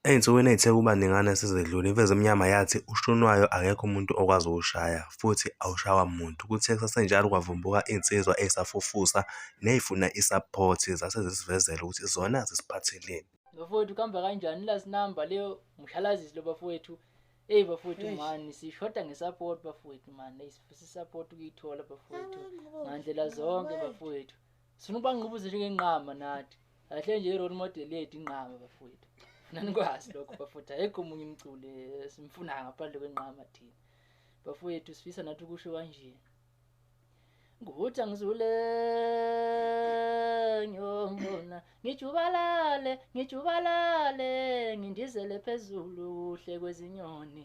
Ezinsukwini ezithe ukuba ningana esezedlule, iMfezi Emnyama yathi uShunwayo akekho umuntu okwazi ukuwushaya futhi awushaywa muntu. Kuthe kusasenjalo kwavumbuka insizwa eyisafufusa neyifuna i-support zase zisivezela ukuthi zona zisiphatheleni. Bafowethu kuhamba kanjani last number leyo mshalazisi lo bafowethu. Eyi bafowethu mani sishoda nge-support bafowethu mani eyi sifisa i-support ukuyithola bafowethu ngandlela zonke bafowethu. sifuna ubangqubuzise njengenqama nathi kahle nje i-role model yethu inqama bafowethu nanikwazi lokho bafowethu ayekho omunye umculi esimfuna ngaphandle kwenqama thina bafowethu sifisa nathi ukusho kanje ngutha ngizule ngiyongona ngijubalale ngijubalale ngindizele phezulu kuhle kwezinyoni